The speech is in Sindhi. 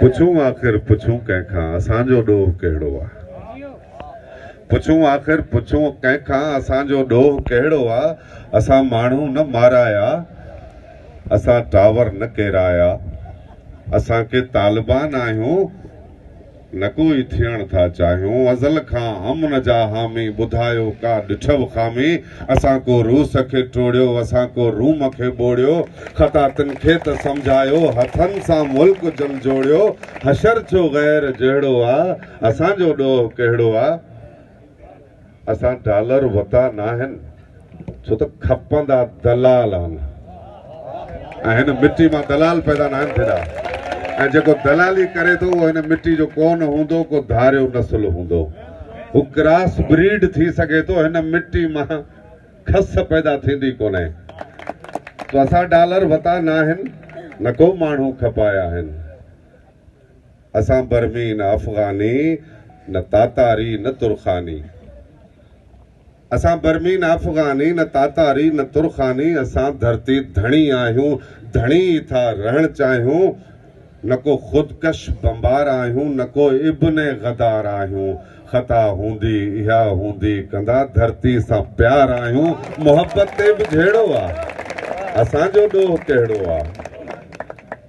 پڇون آخر پڇون ڪنهن کان اسان جو ڏوهه ڪهڙو آ پڇون آخر پڇون ڪنهن کان اسان جو ڏوهه ڪهڙو آ اسان ماڻهو نه مارايا اسان ٽاور نه ڪيرايا اسان ڪي طالبان آهيون نڪو ئي ٿيڻ ٿا چاهيون ازل کان امن جا حامي ٻڌايو ڪا ڏٺئو خامي اسان ڪو روس کي ٽوڙيو اسان ڪو روم کي ٻوڙيو خطا تن کي ته سمجهايو هٿن سان ملڪ جهنجهوڙيو حشر ڇو غير جهڙو آ اسان جو ڏوهه ڪهڙو آ. اسان ڊالر وتا ناهن ڇو ته کپندا دلال آهن ۽ هن مٽي مان دلال پيدا ناهن ٿيندا ۽ جيڪو دلالي ڪري ٿو اهو هن مٽي جو ڪو نه هوندو ڪو ڌاريو نسل هوندو هو ڪراس بريڊ ٿي سگهي ٿو هن مٽي مان کس پيدا ٿيندي ڪونهي تو اسان ڊالر وتا ناهن نه ڪو ماڻهو کپايا آهن. اسان برمي نه افغاني، نه تاتاري نه ترخاني. اسان برمي نه افغاني، نه تاتاري نه ترخاني، اسان ڌرتي ڌڻي آهيون، ڌڻي ئي ٿا رهڻ چاهيون، نه ڪو خودڪش بمبار آهيون، نه ڪو ابن غدار آهيون، خطا هوندي اها هوندي ڪندا، ڌرتي سان پيار آهيون، محبت تي به جهيڙو آ، اسان جو ڏوهه ڪهڙو آ.